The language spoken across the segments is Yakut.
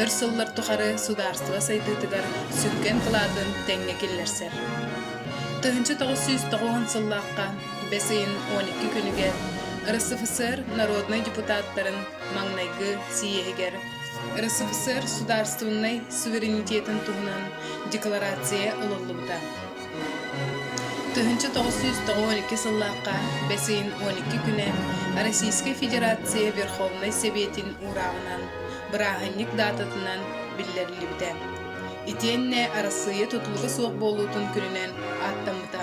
өр сыллар тухары судаарыстыба сайдыытыгар сүҥкэн кылаатын тэҥҥэ киллэрсэр. Тыһыынча тоҕус сүүс тоҕуон сыллаахха бэс ыйын он икки күнүгэр РСФСР народнай депутаттарын маҥнайгы сийиэһигэр РСФСР судаарыстыбыннай суверенитетын туһунан декларация ылыллыбыта. Тыһыынча тоҕус сүүс тоҕус уон икки сыллаахха бэс ыйын уон икки күнэ Российскай Федерация Верховнай Сэбиэтин уурааҕынан, бырааһынньык даататынан биллэриллибитэ. Итиэннэ Арассыыйа тутулуга суох буолуутун күнүнэн ааттаммыта.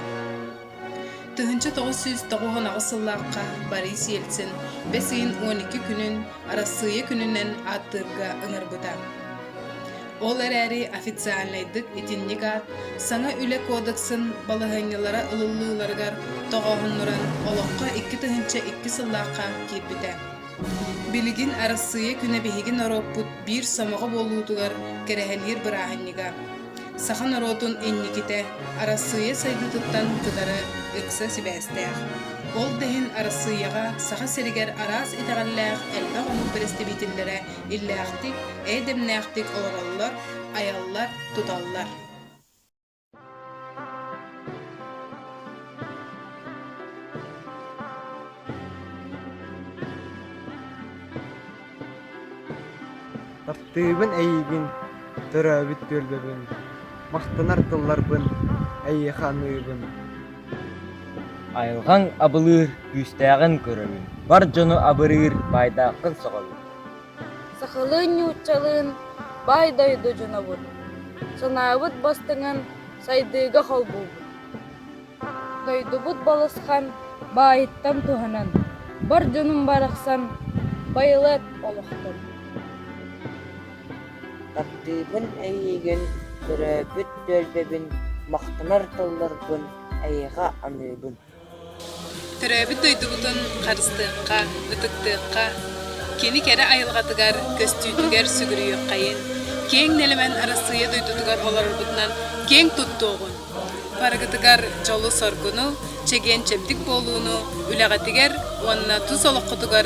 Тыһыынча тоҕус сүүс тоҕус он аҕыс сыллаахха Борис Ельцин бэс ыйын уон икки күнүн Арассыыйа күнүнэн ааттыырга ыҥырбыта. Ол эрээри официальнайдык итинник аат Саҥа үлэ кодексын балаһыанньалара ылыллыыларыгар тоҕооһуннуран олоҥхо икки тыһыынча икки сыллаахха киирбитэ. Билигин Арассыыйа күнэ биһиги норуоппут биир сомоҕо буолуутугар кэрэһэлиир бырааһынньыга. Саха норуотун инникитэ Арассыыйа сайдыытыттан кытары ыкса сибээстээх. Ол да иһин Арассыыйаҕа Саха сиригэр араас итэҕэллээх элбэх омук бэрэстэбиитэллэрэ иллээхтик, эйдэмнээхтик олороллор, айаллар, туталлар. Тартыыбын эйигин, төрөөбүт түөлбэбин, махтанар тылларбын эйиэхэ аныыбын. Айылҕаҥ абылыыр, күүстээҕин көрөбүн. Бар дьону абырыыр, баайдааххын сөҕөбүн. Сахалыы ньууччалыын баай дойду дьонобут, санаабыт бастыҥын сайдыыга холбуубут. Дойдубут балысхан баайыттан туһанан, бар дьонум барахсан байылыат олохтон. Тардыыбын эйиигин, төрөөбүт түөлбэбин махтанар тылларбын эйиэхэ аныыбын Төрөөбүт дойдубутун харыстыахха, ытыктыахха, кини кэрэ айылҕатыгар, көстүүтүгэр сүгүрүйүөххэйин, киэҥ нэлэмэн Арассыыйа дойдутугар олорорбутунан киэҥ туттуоҕун, барыгытыгар дьолу-соргуну, чэгиэн-чэбдик буолууну, үлэҕитигэр уонна тус олоххутугар